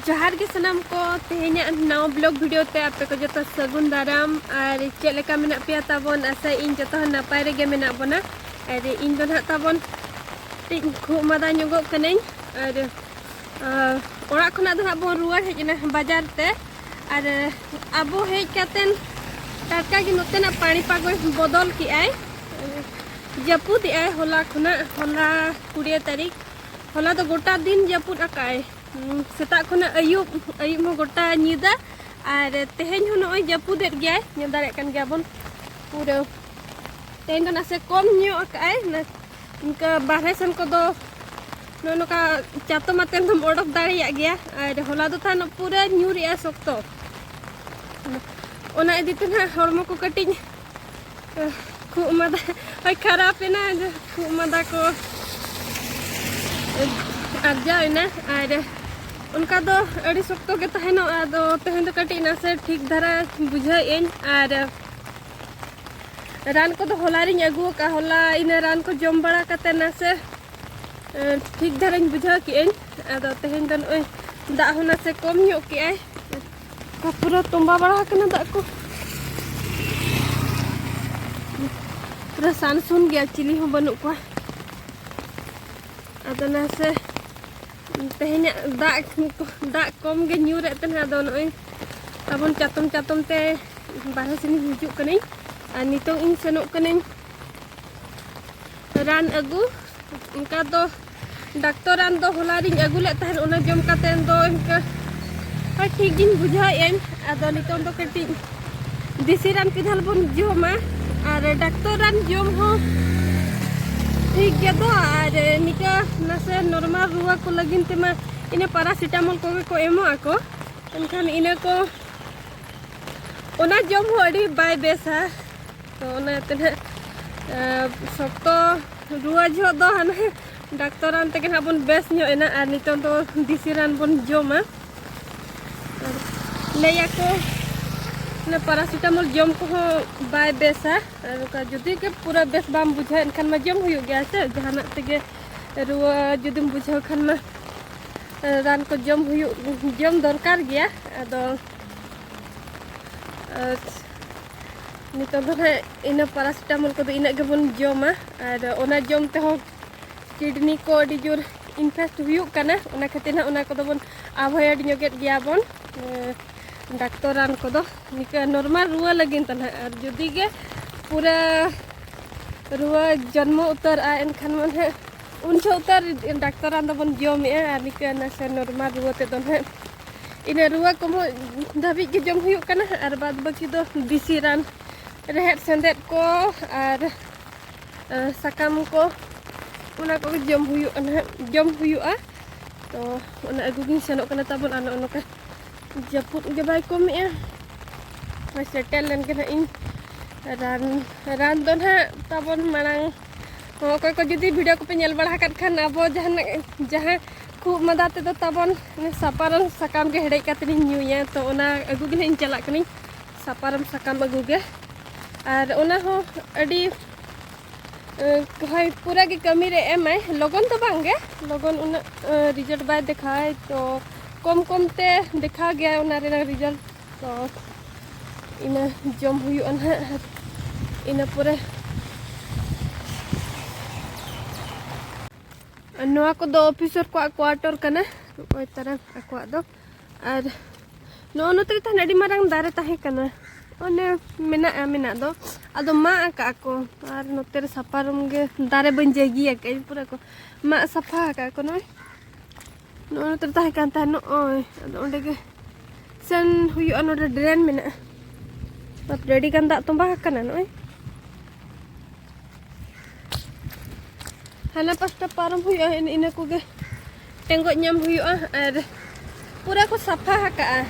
ᱡᱚᱦᱟᱨ ᱜᱮ ᱥᱟᱱᱟᱢ ᱠᱚ ᱛᱮᱦᱮᱧᱟᱜ ᱱᱟᱣᱟ ᱵᱞᱚᱜ ᱵᱷᱤᱰᱤᱭᱳ ᱛᱮ ᱟᱯᱮ ᱠᱚ ᱡᱚᱛᱚ ᱥᱟᱹᱜᱩᱱ ᱫᱟᱨᱟᱢ ᱟᱨ ᱪᱮᱫ ᱞᱮᱠᱟ ᱢᱮᱱᱟᱜ ᱯᱮᱭᱟ ᱛᱟᱵᱚᱱ ᱟᱥᱟ ᱤᱧ ᱡᱚᱛᱚ ᱦᱚᱲ ᱱᱟᱯᱟᱭ ᱨᱮᱜᱮ ᱢᱮᱱᱟᱜ ᱵᱚᱱᱟ ᱟᱨ ᱤᱧ ᱫᱚ ᱱᱟᱦᱟᱜ ᱛᱟᱵᱚᱱ ᱠᱟᱹᱴᱤᱡ ᱠᱷᱩᱜ ᱢᱟᱫᱟ ᱧᱚᱜᱚᱜ ᱠᱟᱹᱱᱟᱹᱧ ᱟᱨ ᱚᱲᱟᱜ ᱠᱷᱚᱱᱟᱜ ᱫᱚ ᱱᱟᱦᱟᱜ ᱵᱚᱱ ᱨᱩᱣᱟᱹᱲ ᱦᱮᱡ ᱮᱱᱟ ᱵᱟᱡᱟᱨ ᱛᱮ ᱟᱨ ᱟᱵᱚ ᱦᱮᱡ ᱠᱟᱛᱮᱱ ᱴᱟᱴᱠᱟ ᱜᱮ ᱱᱚᱛᱮᱱᱟᱜ ᱯᱟᱹᱲᱤ ᱯᱟᱜᱚᱭ ᱵᱚᱫᱚᱞ ᱠᱮᱜᱼᱟᱭ ᱡᱟᱹᱯᱩᱫᱮᱜᱼᱟᱭ ᱦᱚᱞᱟ ᱠᱷᱚᱱᱟᱜ ᱦᱚᱞᱟ ᱠᱩᱲᱤᱭᱟᱹ ᱛᱟᱹᱨᱤᱠᱷ ᱦᱚᱞᱟ ᱫᱚ ᱜᱚᱴᱟ ᱫᱤᱱ ᱡᱟᱹᱯᱩᱫ ᱟᱠᱟᱭ ᱥᱮᱛᱟᱜ ᱠᱷᱚᱱᱟᱜ ᱟᱹᱭᱩᱵ ᱟᱹᱭᱩᱵ ᱦᱚᱸ ᱜᱚᱴᱟ ᱧᱤᱫᱟᱹ ᱟᱨ ᱛᱮᱦᱮᱧ ᱦᱚᱸ ᱱᱚᱜᱼᱚᱭ ᱡᱟᱹᱯᱩᱫᱮᱫ ᱜᱮᱭᱟᱭ ᱧᱮᱞ ᱫᱟᱲᱮᱭᱟᱜ ᱠᱟᱱ ᱜᱮᱭᱟᱵᱚᱱ ᱯᱩᱨᱟᱹ ᱛᱮᱦᱮᱧ ᱫᱚ ᱱᱟᱥᱮ ᱠᱚᱢ ᱧᱚᱜ ᱟᱠᱟᱭ ᱤᱱᱠᱟᱹ ᱵᱟᱨᱦᱮ ᱥᱮᱱ ᱠᱚᱫᱚ ᱱᱚᱜᱼᱚ ᱱᱚᱝᱠᱟ ᱪᱟᱛᱚᱢ ᱟᱛᱮᱱ ᱫᱚᱢ ᱚᱰᱚᱠ ᱫᱟᱲᱮᱭᱟᱜ ᱜᱮᱭᱟ ᱟᱨ ᱦᱚᱞᱟ ᱫᱚ ᱛᱟᱦᱮᱱ ᱯᱩᱨᱟᱹ ᱧᱩᱨᱮᱜᱼᱟ ᱥᱚᱠᱛᱚ ᱚᱱᱟ ᱤᱫᱤ ᱛᱮ ᱱᱟᱦᱟᱜ ᱦᱚᱲᱢᱚ ᱠᱚ ᱠᱟᱹᱴᱤᱡ ᱠᱷᱩᱜ ᱢᱟᱫᱟ ᱦᱳᱭ ᱠᱷᱟᱨᱟᱯ ᱮᱱᱟ ᱠᱷᱩᱜ ᱢᱟᱫᱟ ᱠᱚ ᱟᱨᱡᱟᱣ ᱮᱱᱟ ᱟᱨ ᱚᱱᱠᱟ ᱫᱚ ᱟᱹᱰᱤ ᱥᱚᱠᱛᱚ ᱜᱮ ᱛᱟᱦᱮᱱᱚᱜᱼᱟ ᱟᱫᱚ ᱛᱮᱦᱮᱧ ᱫᱚ ᱠᱟᱹᱴᱤᱡ ᱱᱟᱥᱮ ᱴᱷᱤᱠ ᱫᱷᱟᱨᱟ ᱵᱩᱡᱷᱟᱹᱣᱮᱫ ᱟᱹᱧ ᱟᱨ ᱨᱟᱱ ᱠᱚᱫᱚ ᱦᱚᱞᱟ ᱨᱤᱧ ᱟᱹᱜᱩ ᱟᱠᱟᱫᱼᱟ ᱦᱚᱞᱟ ᱤᱱᱟᱹ ᱨᱟᱱ ᱠᱚ ᱡᱚᱢ ᱵᱟᱲᱟ ᱠᱟᱛᱮ ᱱᱟᱥᱮ ᱴᱷᱤᱠ ᱫᱷᱟᱨᱟᱧ ᱵᱩᱡᱷᱟᱹᱣ ᱠᱮᱜ ᱟᱹᱧ ᱟᱫᱚ ᱛᱮᱦᱮᱧ ᱫᱚ ᱱᱚᱜᱼᱚᱭ ᱫᱟᱜ ᱦᱚᱸ ᱱᱟᱥᱮ ᱠᱚᱢ ᱧᱚᱜ ᱠᱮᱜᱼᱟᱭ ᱯᱩᱨᱟᱹ ᱛᱚᱸᱵᱟ ᱵᱟᱲᱟ ᱟᱠᱟᱱᱟ ᱫᱟᱜ ᱠᱚ ᱯᱩᱨᱟᱹ ᱥᱟᱱᱥᱩᱱ ᱜᱮᱭᱟ ᱪᱤᱞᱤ ᱦᱚᱸ ᱵᱟᱹᱱᱩᱜ ᱠᱚᱣᱟ ᱟᱫᱚ ᱱᱟᱥᱮ ᱛᱮᱦᱮᱧᱟᱜ ᱫᱟᱜ ᱫᱟᱜ ᱠᱚᱢ ᱜᱮ ᱧᱩᱨᱮᱫ ᱛᱟᱦᱮᱱᱟ ᱟᱫᱚ ᱱᱚᱜᱼᱚᱭ ᱛᱟᱵᱚᱱ ᱪᱟᱛᱚᱢ ᱪᱟᱛᱚᱢ ᱛᱮ ᱵᱟᱨᱦᱮ ᱥᱮᱱᱤᱧ ᱦᱤᱡᱩᱜ ᱠᱟᱹᱱᱟᱹᱧ ᱟᱨ ᱱᱤᱛᱚᱜ ᱤᱧ ᱥᱮᱱᱚᱜ ᱠᱟᱹᱱᱟᱹᱧ ᱨᱟᱱ ᱟᱹᱜᱩ ᱚᱱᱠᱟ ᱫᱚ ᱰᱟᱠᱛᱚᱨ ᱨᱟᱱ ᱫᱚ ᱦᱚᱞᱟ ᱨᱤᱧ ᱟᱹᱜᱩ ᱞᱮᱫ ᱛᱟᱦᱮᱸᱫ ᱚᱱᱟ ᱡᱚᱢ ᱠᱟᱛᱮ ᱫᱚ ᱤᱱᱠᱟᱹ ᱴᱷᱤᱠ ᱜᱤᱧ ᱵᱩᱡᱷᱟᱹᱣᱮᱫᱟᱹᱧ ᱟᱫᱚ ᱱᱤᱛᱚᱝ ᱫᱚ ᱠᱟᱹᱴᱤᱡ ᱫᱮᱥᱤ ᱨᱟᱱ ᱠᱤᱫᱷᱟᱞ ᱵᱚᱱ ᱡᱚᱢᱟ ᱟᱨ ᱰᱟᱠᱛᱚᱨ ᱨᱟᱱ ᱡᱚᱢ ᱦᱚᱸ ᱴᱷᱤᱠ ᱜᱮᱭᱟ ᱫᱚ ᱟᱨ ᱱᱤᱠᱟᱹ ᱱᱟᱥᱮ ᱱᱚᱨᱢᱟᱞ ᱨᱩᱣᱟᱹ ᱠᱚ ᱞᱟᱹᱜᱤᱫ ᱛᱮᱢᱟ ᱤᱱᱟᱹ ᱯᱟᱨᱟᱥᱤᱴᱟᱢᱚᱞ ᱠᱚᱜᱮ ᱠᱚ ᱮᱢᱚᱜ ᱟᱠᱚ ᱮᱱᱠᱷᱟᱱ ᱤᱱᱟᱹ ᱠᱚ ᱚᱱᱟ ᱡᱚᱢ ᱦᱚᱸ ᱟᱹᱰᱤ ᱵᱟᱭ ᱵᱮᱥᱟ ᱛᱚ ᱚᱱᱟᱛᱮ ᱱᱟᱜ ᱥᱚᱠᱛᱚ ᱨᱩᱣᱟᱹ ᱡᱚᱦᱚᱜ ᱫᱚ ᱦᱟᱱᱮ ᱰᱟᱠᱛᱚᱨ ᱨᱟᱱ ᱛᱮᱜᱮ ᱱᱟᱜ ᱵᱚᱱ ᱵᱮᱥ ᱧᱚᱜ ᱮᱱᱟ ᱟᱨ ᱱᱤᱛᱚᱝ ᱫᱚ ᱫᱤᱥᱤ ᱨᱟᱱ ᱵᱚᱱ ᱡᱚᱢᱟ ᱟᱨ ᱞᱟᱹᱭᱟᱠᱚ ᱚᱱᱟ ᱯᱟᱨᱟᱥᱤᱴᱟᱢᱚᱞ ᱡᱚᱢ ᱠᱚᱦᱚᱸ ᱵᱟᱭ ᱵᱮᱥᱟ ᱟᱨ ᱚᱱᱠᱟ ᱡᱩᱫᱤ ᱜᱮ ᱯᱩᱨᱟᱹ ᱵᱮᱥ ᱵᱟᱢ ᱵᱩᱡᱷᱟᱹᱣ ᱮᱱᱠᱷᱟᱱ ᱢᱟ ᱡᱚᱢ ᱦᱩᱭᱩᱜ ᱜᱮᱭᱟ ᱥᱮ ᱡᱟᱦᱟᱱᱟᱜ ᱛᱮᱜᱮ ᱨᱩᱣᱟᱹ ᱡᱩᱫᱤᱢ ᱵᱩᱡᱷᱟᱹᱣ ᱠᱷᱟᱱ ᱢᱟ ᱨᱟᱱ ᱠᱚ ᱡᱚᱢ ᱦᱩᱭᱩᱜ ᱡᱚᱢ ᱫᱚᱨᱠᱟᱨ ᱜᱮᱭᱟ ᱟᱫᱚ ᱱᱤᱛᱚᱜ ᱫᱚ ᱦᱟᱸᱜ ᱤᱱᱟᱹ ᱯᱟᱨᱟᱥᱤᱴᱟᱢᱚᱞ ᱠᱚᱫᱚ ᱤᱱᱟᱹᱜ ᱜᱮᱵᱚᱱ ᱡᱚᱢᱟ ᱟᱨ ᱚᱱᱟ ᱡᱚᱢ ᱛᱮᱦᱚᱸ ᱠᱤᱰᱱᱤ ᱠᱚ ᱟᱹᱰᱤ ᱡᱳᱨ ᱤᱱᱯᱷᱮᱠᱴ ᱦᱩᱭᱩᱜ ᱠᱟᱱᱟ ᱚᱱᱟ ᱠᱷᱟᱹᱛᱤᱨ ᱦᱟᱸᱜ ᱚᱱᱟ ᱠᱚᱫᱚ ᱵᱚᱱ ᱟᱵᱷᱚᱭᱮᱰ ᱧᱚᱜᱮᱫ ᱜᱮᱭᱟ ᱵᱚᱱ ᱰᱟᱠᱛᱚᱨ ᱨᱟᱱ ᱠᱚᱫᱚ ᱱᱤᱠᱟᱹ ᱱᱚᱨᱢᱟᱞ ᱨᱩᱣᱟᱹ ᱞᱟᱹᱜᱤᱫ ᱛᱮ ᱦᱟᱸᱜ ᱟᱨ ᱡᱩᱫᱤ ᱜᱮ ᱯᱩᱨᱟᱹ ᱨᱩᱣᱟᱹ ᱡᱚᱱᱢᱚ ᱩᱛᱟᱹᱨᱚᱜᱼᱟ ᱮᱱᱠᱷᱟᱱ ᱢᱟ ᱦᱟᱸᱜ ᱩᱱ ᱡᱚᱦᱚᱜ ᱩᱛᱟᱹᱨ ᱰᱟᱠᱛᱚᱨ ᱨᱟᱱ ᱫᱚᱵᱚᱱ ᱡᱚᱢᱮᱜᱼᱟ ᱟᱨ ᱱᱤᱠᱟᱹ ᱱᱟᱥᱮ ᱱᱚᱨᱢᱟᱞ ᱨᱩᱣᱟᱹ ᱛᱮᱫᱚ ᱦᱟᱸᱜ ᱤᱱᱟᱹ ᱨᱩᱣᱟᱹ ᱠᱚᱢᱚᱜ ᱫᱷᱟᱹᱵᱤᱡ ᱜᱮ ᱡᱚᱢ ᱦᱩᱭᱩᱜ ᱠᱟᱱᱟ ᱟᱨ ᱵᱟᱫ ᱵᱟᱹᱠᱤ ᱫᱚ ᱫᱮᱥᱤ ᱨᱟᱱ ᱨᱮᱦᱮᱫ ᱥᱮᱸᱫᱮᱫ ᱠᱚ ᱟᱨ ᱥᱟᱠᱟᱢ ᱠᱚ ᱚᱱᱟ ᱠᱚᱜᱮ ᱡᱚᱢ ᱦᱩᱭᱩᱜ ᱠᱟᱱᱟ ᱡᱚᱢ ᱦᱩᱭᱩᱜᱼᱟ ᱛᱚ ᱚᱱᱟ ᱟᱹᱜᱩ ᱜᱤᱧ ᱥᱮᱱᱚᱜ ᱠᱟᱱᱟ ᱛᱟᱵᱚᱱ ᱟᱨ ᱱᱚᱜᱼᱚ ᱱᱚᱝᱠᱟ ᱡᱟᱹᱯᱩᱫ ᱜᱮ ᱵᱟᱭ ᱠᱚᱢᱮᱜᱼᱟ ᱦᱳᱭ ᱥᱮᱴᱮᱨ ᱞᱮᱱ ᱜᱮ ᱱᱟᱦᱟᱜ ᱤᱧ ᱨᱟᱱ ᱨᱟᱱ ᱫᱚ ᱱᱟᱦᱟᱜ ᱛᱟᱵᱚᱱ ᱢᱟᱲᱟᱝ ᱚᱠᱚᱭ ᱠᱚ ᱡᱩᱫᱤ ᱵᱷᱤᱰᱤᱭᱳ ᱠᱚᱯᱮ ᱧᱮᱞ ᱵᱟᱲᱟ ᱟᱠᱟᱫ ᱠᱷᱟᱱ ᱟᱵᱚ ᱡᱟᱦᱟᱱᱟᱜ ᱡᱟᱦᱟᱸ ᱠᱷᱩᱵ ᱢᱟᱫᱟ ᱛᱮᱫᱚ ᱛᱟᱵᱚᱱ ᱥᱟᱯᱟᱨᱚᱢ ᱥᱟᱠᱟᱢ ᱜᱮ ᱦᱮᱰᱮᱡ ᱠᱟᱛᱮ ᱤᱧ ᱧᱩᱭᱟ ᱛᱚ ᱚᱱᱟ ᱟᱹᱜᱩ ᱜᱮ ᱤᱧ ᱪᱟᱞᱟᱜ ᱠᱟᱹᱱᱟᱹᱧ ᱥᱟᱯᱟᱨᱚᱢ ᱥᱟᱠᱟᱢ ᱟᱹᱜᱩ ᱜᱮ ᱟᱨ ᱚᱱᱟ ᱦᱚᱸ ᱟᱹᱰᱤ ᱦᱳᱭ ᱯᱩᱨᱟᱹ ᱜᱮ ᱠᱟᱹᱢᱤ ᱨᱮ ᱮᱢᱟᱭ ᱞᱚᱜᱚᱱ ᱫᱚ ᱵᱟᱝ ᱜᱮ ᱞᱚᱜᱚᱱ ᱩᱱᱟᱹᱜ ᱨᱤᱡᱟᱞᱴ ᱵᱟᱭ ᱫᱮᱠᱷᱟᱣᱟᱭ ᱛᱚ ᱠᱚᱢ ᱠᱚᱢ ᱛᱮ ᱫᱮᱠᱷᱟᱣ ᱜᱮᱭᱟ ᱚᱱᱟ ᱨᱮᱱᱟᱜ ᱨᱤᱡᱟᱞᱴ ᱛᱚ ᱤᱱᱟᱹ ᱡᱚᱢ ᱦᱩᱭᱩᱜᱼᱟ ᱱᱟᱦᱟᱜ ᱟᱨ ᱤᱱᱟᱹ ᱯᱚᱨᱮ ᱱᱚᱣᱟ ᱠᱚᱫᱚ ᱚᱯᱷᱤᱥᱚᱨ ᱠᱚᱣᱟᱜ ᱠᱚᱣᱟᱴᱚᱨ ᱠᱟᱱᱟ ᱱᱚᱜᱼᱚᱭ ᱛᱟᱨᱟ ᱟᱠᱚᱣᱟᱜ ᱫᱚ ᱟᱨ ᱱᱚᱜᱼᱚ ᱱᱚᱛᱮ ᱨᱮ ᱛᱟᱦᱮᱱ ᱟᱹᱰᱤ ᱢᱟᱨᱟᱝ ᱫᱟᱨᱮ ᱛᱟᱦᱮᱸ ᱠᱟᱱᱟ ᱚᱱᱮ ᱢᱮᱱᱟᱜᱼᱟ ᱢᱮᱱᱟᱜ ᱫᱚ ᱟᱫᱚ ᱢᱟᱜ ᱟᱠᱟᱫ ᱟᱠᱚ ᱟᱨ ᱱᱚᱛᱮ ᱨᱮ ᱥᱟᱯᱷᱟ ᱨᱩᱢ ᱜᱮ ᱫᱟᱨᱮ ᱵᱟᱹᱧ ᱡᱟᱹᱜᱤ ᱟᱠᱟᱫ ᱯᱩᱨᱟᱹ ᱠᱚ ᱢᱟᱜ ᱥᱟᱯᱷᱟ ᱟᱠᱟᱫ ᱟᱠᱚ ᱱᱚᱜᱼᱚᱭ ᱱᱚᱜᱼᱚᱭ ᱱᱚᱛᱮ ᱛᱟᱦᱮᱸ ᱠᱟᱱ ᱛᱟᱦᱮᱸ ᱱᱚᱜᱼᱚᱭ ᱟᱫᱚ ᱚᱸᱰᱮ ᱜᱮ ᱥᱮᱱ ᱦᱩᱭᱩᱜᱼᱟ ᱱᱚᱰᱮ ᱰᱨᱮᱱ ᱢᱮᱱᱟᱜᱼᱟ ᱛᱟᱯᱚᱨᱮ ᱟᱹᱰᱤ ᱜᱟᱱ ᱫᱟᱜ ᱛᱚᱸᱵᱟ ᱟᱠᱟᱱᱟ ᱱᱚᱜᱼᱚᱭ ᱦᱟᱱᱟ ᱯᱟᱥᱴᱟ ᱯᱟᱨᱚᱢ ᱦᱩᱭᱩᱜᱼᱟ ᱤᱱᱟᱹ ᱠᱚᱜᱮ ᱴᱮᱸᱜᱚᱡ ᱧᱟᱢ ᱦᱩᱭᱩᱜᱼᱟ ᱟᱨ ᱯᱩᱨᱟᱹ ᱠᱚ ᱥᱟᱯᱷᱟ ᱟᱠᱟᱜᱼᱟ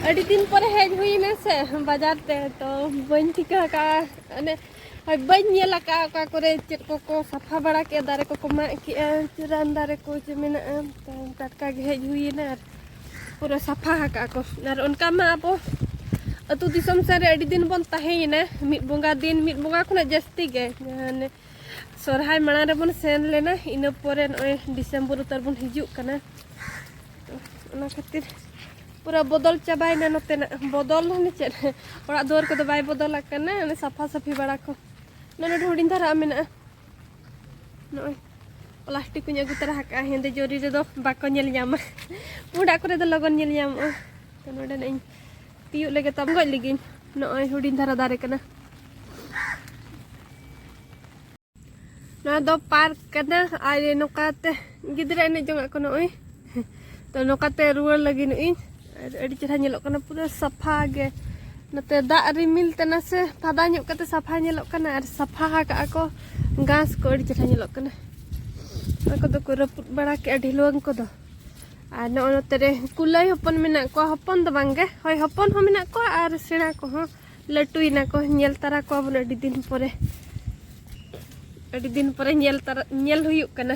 ᱟᱹᱰᱤ ᱫᱤᱱ ᱯᱚᱨᱮ ᱦᱮᱡ ᱦᱩᱭᱱᱟ ᱥᱮ ᱵᱟᱡᱟᱨ ᱛᱮ ᱛᱚ ᱵᱟᱹᱧ ᱴᱷᱤᱠᱟᱹ ᱟᱠᱟᱜᱼᱟ ᱚᱱᱮ ᱟᱨ ᱵᱟᱹᱧ ᱧᱮᱞ ᱟᱠᱟᱫᱼᱟ ᱚᱠᱟ ᱠᱚᱨᱮ ᱪᱮᱫ ᱠᱚᱠᱚ ᱥᱟᱯᱷᱟ ᱵᱟᱲᱟ ᱠᱮᱫᱼᱟ ᱫᱟᱨᱮ ᱠᱚᱠᱚ ᱢᱟᱜ ᱠᱮᱫᱼᱟ ᱨᱟᱱ ᱫᱟᱨᱮ ᱠᱚ ᱪᱮ ᱢᱮᱱᱟᱜᱼᱟ ᱴᱟᱴᱠᱟ ᱜᱮ ᱦᱮᱡ ᱦᱩᱭᱮᱱᱟ ᱟᱨ ᱯᱩᱨᱟᱹ ᱥᱟᱯᱷᱟ ᱟᱠᱟᱫᱼᱟ ᱠᱚ ᱟᱨ ᱚᱱᱠᱟ ᱢᱟ ᱟᱵᱚ ᱟᱹᱛᱩ ᱫᱤᱥᱚᱢ ᱥᱮᱫ ᱨᱮ ᱟᱹᱰᱤ ᱫᱤᱱ ᱵᱚᱱ ᱛᱟᱦᱮᱸᱭᱮᱱᱟ ᱢᱤᱫ ᱵᱚᱸᱜᱟ ᱫᱤᱱ ᱢᱤᱫ ᱵᱚᱸᱜᱟ ᱠᱷᱚᱱᱟᱜ ᱡᱟᱹᱥᱛᱤ ᱜᱮ ᱢᱟᱱᱮ ᱥᱚᱨᱦᱟᱭ ᱢᱟᱲᱟᱝ ᱨᱮᱵᱚᱱ ᱥᱮᱱ ᱞᱮᱱᱟ ᱤᱱᱟᱹ ᱯᱚᱨᱮ ᱱᱚᱜᱼᱚᱭ ᱰᱤᱥᱮᱢᱵᱚᱨ ᱩᱛᱟᱹᱨ ᱵᱚᱱ ᱦᱤᱡᱩᱜ ᱠᱟᱱᱟ ᱚᱱᱟ ᱠᱷᱟᱹᱛᱤᱨ ᱯᱩᱨᱟᱹ ᱵᱚᱫᱚᱞ ᱪᱟᱵᱟᱭᱮᱱᱟ ᱱᱚᱛᱮᱱᱟᱜ ᱵᱚᱫᱚᱞ ᱢᱟᱱᱮ ᱪᱮᱫ ᱚᱲᱟᱜ ᱫᱩᱣᱟᱹᱨ ᱠᱚᱫᱚ ᱵᱟᱭ ᱵᱚᱫᱚᱞ ᱟᱠᱟᱱᱟ ᱚᱱᱮ ᱥᱟᱯᱷᱟ ᱥᱟᱹᱯᱷᱤ ᱵᱟᱲᱟ ᱠᱚ ᱱᱚᱜᱼᱚᱭ ᱱᱚᱰᱮ ᱦᱩᱰᱤᱧ ᱫᱷᱟᱨᱟ ᱢᱮᱱᱟᱜᱼᱟ ᱱᱚᱜᱼᱚᱭ ᱯᱞᱟᱥᱴᱤᱠ ᱠᱚᱧ ᱟᱹᱜᱩ ᱛᱚᱨᱟ ᱟᱠᱟᱫᱼᱟ ᱦᱮᱸᱫᱮ ᱡᱚᱨᱤ ᱨᱮᱫᱚ ᱵᱟᱠᱚ ᱧᱮᱞ ᱧᱟᱢᱟ ᱯᱩᱸᱰᱟᱜ ᱠᱚᱨᱮ ᱫᱚ ᱞᱚᱜᱚᱱ ᱧᱮᱞ ᱧᱟᱢᱚᱜᱼᱟ ᱛᱚ ᱱᱚᱰᱮ ᱱᱟᱜ ᱤᱧ ᱛᱤᱭᱳᱜ ᱞᱮᱜᱮ ᱛᱟᱢ ᱜᱚᱡ ᱞᱮᱜᱤᱧ ᱱᱚᱜᱼᱚᱭ ᱦᱩᱰᱤᱧ ᱫᱷᱟᱨᱟ ᱫᱟᱨᱮ ᱠᱟᱱᱟ ᱱᱚᱣᱟ ᱫᱚ ᱯᱟᱨᱠ ᱠᱟᱱᱟ ᱟᱨ ᱱᱚᱝᱠᱟᱛᱮ ᱜᱤᱫᱽᱨᱟᱹ ᱮᱱᱮᱡ ᱡᱚᱝᱟᱜ ᱠᱚ ᱱᱚᱜᱼᱚᱭ ᱛᱚ ᱱᱚᱝᱠᱟᱛᱮ ᱨᱩᱣᱟᱹᱲ ᱞᱟᱹᱜᱤᱫ ᱤᱧ ᱟᱨ ᱟᱹᱰᱤ ᱪᱮᱦᱨᱟ ᱧᱮᱞᱚᱜ ᱠᱟᱱᱟ ᱯᱩᱨᱟᱹ ᱥᱟᱯᱷᱟ ᱜᱮ ᱱᱚᱛᱮ ᱫᱟᱜ ᱨᱤᱢᱤᱞ ᱛᱮ ᱱᱟᱥᱮ ᱯᱷᱟᱫᱟ ᱧᱚᱜ ᱠᱟᱛᱮ ᱥᱟᱯᱷᱟ ᱧᱮᱞᱚᱜ ᱠᱟᱱᱟ ᱟᱨ ᱥᱟᱯᱷᱟ ᱟᱠᱟᱜᱼᱟ ᱠᱚ ᱜᱷᱟᱥ ᱠᱚ ᱟᱹᱰᱤ ᱪᱮᱦᱨᱟ ᱧᱮᱞᱚᱜ ᱠᱟᱱᱟ ᱚᱱᱟ ᱠᱚᱫᱚ ᱠᱚ ᱨᱟᱹᱯᱩᱫ ᱵᱟᱲᱟ ᱠᱮᱜᱼᱟ ᱰᱷᱤᱞᱣᱟᱹᱝ ᱠᱚᱫᱚ ᱟᱨ ᱱᱚᱜᱼᱚ ᱱᱚᱛᱮ ᱨᱮ ᱠᱩᱞᱟᱹᱭ ᱦᱚᱯᱚᱱ ᱢᱮᱱᱟᱜ ᱠᱚᱣᱟ ᱦᱚᱯᱚᱱ ᱫᱚ ᱵᱟᱝᱜᱮ ᱦᱳᱭ ᱦᱚᱯᱚᱱ ᱦᱚᱸ ᱢᱮᱱᱟᱜ ᱠᱚᱣᱟ ᱟᱨ ᱥᱮᱬᱟ ᱠᱚᱦᱚᱸ ᱞᱟᱹᱴᱩᱭᱮᱱᱟ ᱠᱚ ᱧᱮᱞ ᱛᱟᱨᱟ ᱠᱚᱣᱟ ᱵᱚᱱ ᱟᱹᱰᱤ ᱫᱤᱱ ᱯᱚᱨᱮ ᱟᱹᱰᱤ ᱫᱤᱱ ᱯᱚᱨᱮ ᱧᱮᱞ ᱛᱟᱨᱟ ᱧᱮᱞ ᱦᱩᱭᱩᱜ ᱠᱟᱱᱟ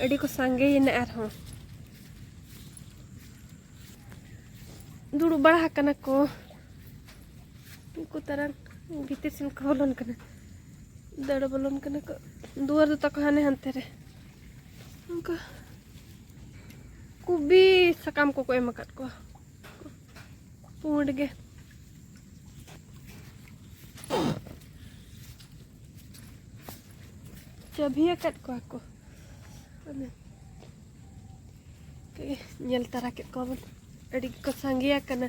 ᱟᱹᱰᱤ ᱠᱚ ᱥᱟᱸᱜᱮᱭᱮᱱᱟ ᱟᱨᱦᱚᱸ ᱫᱩᱲᱩᱵ ᱵᱟᱲᱟ ᱟᱠᱟᱱᱟ ᱠᱚ ᱩᱱᱠᱩ ᱛᱟᱨᱟᱝ ᱵᱷᱤᱛᱤᱨ ᱥᱮᱱ ᱠᱚ ᱵᱚᱞᱚᱱ ᱠᱟᱱᱟ ᱫᱟᱹᱲ ᱵᱚᱞᱚᱱ ᱠᱟᱱᱟ ᱠᱚ ᱫᱩᱣᱟᱹᱨ ᱫᱚ ᱛᱟᱠᱚ ᱦᱟᱱᱮ ᱦᱟᱱᱛᱮ ᱨᱮ ᱚᱱᱠᱟ ᱠᱩᱵᱤ ᱥᱟᱠᱟᱢ ᱠᱚᱠᱚ ᱮᱢ ᱟᱠᱟᱫ ᱠᱚᱣᱟ ᱯᱩᱸᱰ ᱜᱮ ᱪᱟᱹᱵᱷᱤ ᱟᱠᱟᱫ ᱠᱚᱣᱟ ᱠᱚ ᱧᱮᱞ ᱛᱟᱨᱟ ᱠᱮᱫ ᱠᱚᱣᱟ ᱵᱚᱱ ᱟᱹᱰᱤ ᱜᱮᱠᱚ ᱥᱟᱸᱜᱮ ᱟᱠᱟᱱᱟ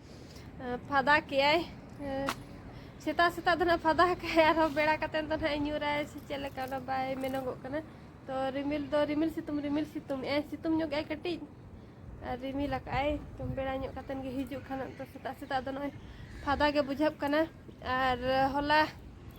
ᱯᱷᱟᱫᱟ ᱠᱮᱜᱼᱟᱭ ᱥᱮᱛᱟᱜ ᱥᱮᱛᱟᱜ ᱫᱚ ᱱᱟᱦᱟᱜ ᱯᱷᱟᱫᱟ ᱠᱟᱭ ᱟᱨᱦᱚᱸ ᱵᱮᱲᱟ ᱠᱟᱛᱮ ᱫᱚ ᱱᱟᱦᱟᱜ ᱧᱩᱨᱟᱭ ᱥᱮ ᱪᱮᱫ ᱞᱮᱠᱟ ᱚᱱᱟ ᱵᱟᱭ ᱢᱮᱱᱚᱜᱚᱜ ᱠᱟᱱᱟ ᱛᱚ ᱨᱤᱢᱤᱞ ᱫᱚ ᱨᱤᱢᱤᱞ ᱥᱤᱛᱩᱝ ᱨᱤᱢᱤᱞ ᱥᱤᱛᱩᱝ ᱮᱜᱼᱟᱭ ᱥᱤᱛᱩᱝ ᱧᱚᱜ ᱮᱜᱼᱟᱭ ᱠᱟᱹᱴᱤᱡ ᱟᱨ ᱨᱤᱢᱤᱞ ᱟᱠᱟᱜᱼᱟᱭ ᱛᱚ ᱵᱮᱲᱟ ᱧᱚᱜ ᱠᱟᱛᱮ ᱜᱮ ᱦᱤᱡᱩᱜ ᱠᱷᱟᱱ ᱛᱚ ᱥᱮᱛᱟᱜ ᱥᱮᱛᱟᱜ ᱫᱚ ᱱᱚᱜᱼᱚᱭ ᱯᱷᱟᱫᱟ ᱜᱮ ᱵᱩᱡᱷᱟᱹᱜ ᱠᱟᱱᱟ ᱟᱨ ᱦᱚᱞᱟ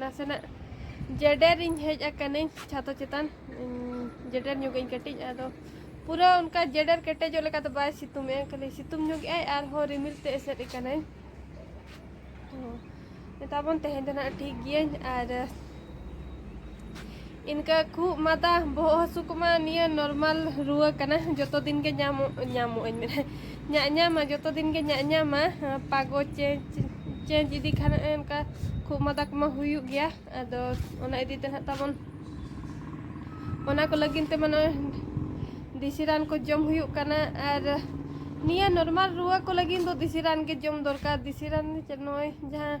ᱱᱟᱥᱮᱱᱟᱜ ᱡᱮᱰᱮᱨᱤᱧ ᱦᱮᱡ ᱟᱠᱟᱱᱟᱹᱧ ᱪᱷᱟᱛᱚ ᱪᱮᱛᱟᱱ ᱡᱮᱰᱮᱨ ᱧᱚᱜᱟᱹᱧ ᱠᱟᱹᱴᱤᱡ ᱟᱫᱚ ᱯᱩᱨᱟᱹ ᱚᱱᱠᱟ ᱡᱮᱰᱮᱨ ᱠᱮᱴᱮᱡᱚᱜ ᱞᱮᱠᱟ ᱫᱚ ᱵᱟᱭ ᱥᱤᱛᱩᱝ ᱮ ᱠᱷᱟᱹᱞᱤ ᱥᱤᱛᱩᱝ ᱧᱚᱜᱮᱜᱼᱟᱭ ᱟᱨᱦᱚᱸ ᱨᱤᱢᱤᱞ ᱛᱮ ᱮᱥᱮᱫ ᱟᱠᱟᱱᱟᱹᱧ ᱢᱮᱛᱟᱵᱚᱱ ᱛᱮᱦᱮᱧ ᱫᱚ ᱱᱟᱜ ᱴᱷᱤᱠ ᱜᱤᱭᱟᱹᱧ ᱟᱨ ᱤᱱᱠᱟᱹ ᱠᱷᱩᱜ ᱢᱟᱫᱟ ᱵᱚᱦᱚᱜ ᱦᱟᱹᱥᱩ ᱠᱚᱢᱟ ᱱᱤᱭᱟᱹ ᱱᱚᱨᱢᱟᱞ ᱨᱩᱣᱟᱹ ᱠᱟᱱᱟ ᱡᱚᱛᱚ ᱫᱤᱱ ᱜᱮ ᱧᱟᱢᱚᱜ ᱧᱟᱢᱚᱜ ᱟᱹᱧ ᱢᱮᱱᱟ ᱧᱟᱜ ᱧᱟᱢᱟ ᱡᱚᱛᱚ ᱫᱤᱱ ᱜᱮ ᱧᱟᱜ ᱧᱟᱢᱟ ᱯᱟᱜᱚ ᱪᱮᱧᱡᱽ ᱪᱮᱧᱡᱽ ᱤᱫᱤ ᱠᱷᱟᱱ ᱚᱱᱠᱟ ᱠᱷᱩᱜ ᱢᱟᱫᱟ ᱠᱚᱢᱟ ᱦᱩᱭᱩᱜ ᱜᱮᱭᱟ ᱟᱫᱚ ᱚᱱᱟ ᱤᱫᱤ ᱛᱮ ᱱᱟᱦᱟᱜ ᱛᱟᱵᱚᱱ ᱚᱱᱟ ᱠᱚ ᱞᱟᱹᱜᱤᱫ ᱛᱮ ᱢᱟᱱᱮ ᱫᱮᱥᱤ ᱨᱟᱱ ᱠᱚ ᱡᱚᱢ ᱦᱩᱭᱩᱜ ᱠᱟᱱᱟ ᱟᱨ ᱱᱤᱭᱟᱹ ᱱᱚᱨᱢᱟᱞ ᱨᱩᱣᱟᱹ ᱠᱚ ᱞᱟᱹᱜᱤᱫ ᱫᱚ ᱫᱮᱥᱤ ᱨᱟᱱ ᱜᱮ ᱡᱚᱢ ᱫᱚᱨᱠᱟᱨ ᱫᱮᱥᱤ ᱨᱟᱱ ᱱᱚᱜᱼᱚᱭ ᱡᱟᱦᱟᱸ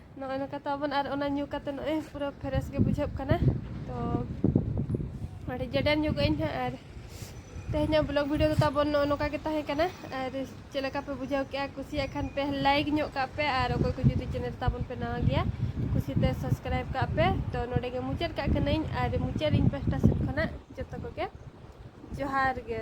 ᱱᱚᱜᱼᱚᱭ ᱱᱚᱝᱠᱟ ᱛᱟᱵᱚᱱ ᱟᱨ ᱚᱱᱟ ᱧᱩ ᱠᱟᱛᱮ ᱱᱚᱜᱼᱚᱭ ᱯᱩᱨᱟᱹ ᱯᱷᱨᱮᱥ ᱜᱮ ᱵᱩᱡᱷᱟᱹᱜ ᱠᱟᱱᱟ ᱛᱚ ᱟᱹᱰᱤ ᱡᱮᱰᱮᱱ ᱧᱚᱜ ᱟᱹᱧ ᱦᱟᱸᱜ ᱟᱨ ᱛᱮᱦᱮᱧᱟᱜ ᱵᱞᱚᱜ ᱵᱷᱤᱰᱤᱭᱳ ᱫᱚ ᱛᱟᱵᱚᱱ ᱱᱚᱜᱼᱚ ᱱᱚᱝᱠᱟ ᱜᱮ ᱛᱟᱦᱮᱸ ᱠᱟᱱᱟ ᱟᱨ ᱪᱮᱫ ᱞᱮᱠᱟ ᱯᱮ ᱵᱩᱡᱷᱟᱹᱣ ᱠᱮᱜᱼᱟ ᱠᱩᱥᱤᱭᱟᱜ ᱠᱷᱟᱱ ᱯᱮ ᱞᱟᱭᱤᱠ ᱧᱚᱜ ᱠᱟᱜ ᱯᱮ ᱟᱨ ᱚᱠᱚᱭ ᱠᱚ ᱡᱩᱫᱤ ᱪᱮᱱᱮᱞ ᱛᱟᱵᱚᱱ ᱯᱮ ᱱᱟᱣᱟ ᱜᱮᱭᱟ ᱠᱩᱥᱤᱛᱮ ᱥᱟᱵᱥᱠᱨᱟᱭᱤᱵ ᱠᱟᱜ ᱯᱮ ᱛᱚ ᱱᱚᱰᱮ ᱜᱮ ᱢᱩᱪᱟᱹᱫ ᱠᱟᱜ ᱠᱟᱹᱱᱟᱹᱧ ᱟᱨ ᱢᱩᱪᱟᱹᱫ ᱤᱧ ᱯᱟᱥᱴᱟ ᱥᱮᱫ ᱠᱷᱚᱱᱟᱜ ᱡᱚᱛᱚ ᱠᱚᱜᱮ ᱡᱚᱦᱟᱨ ᱜᱮ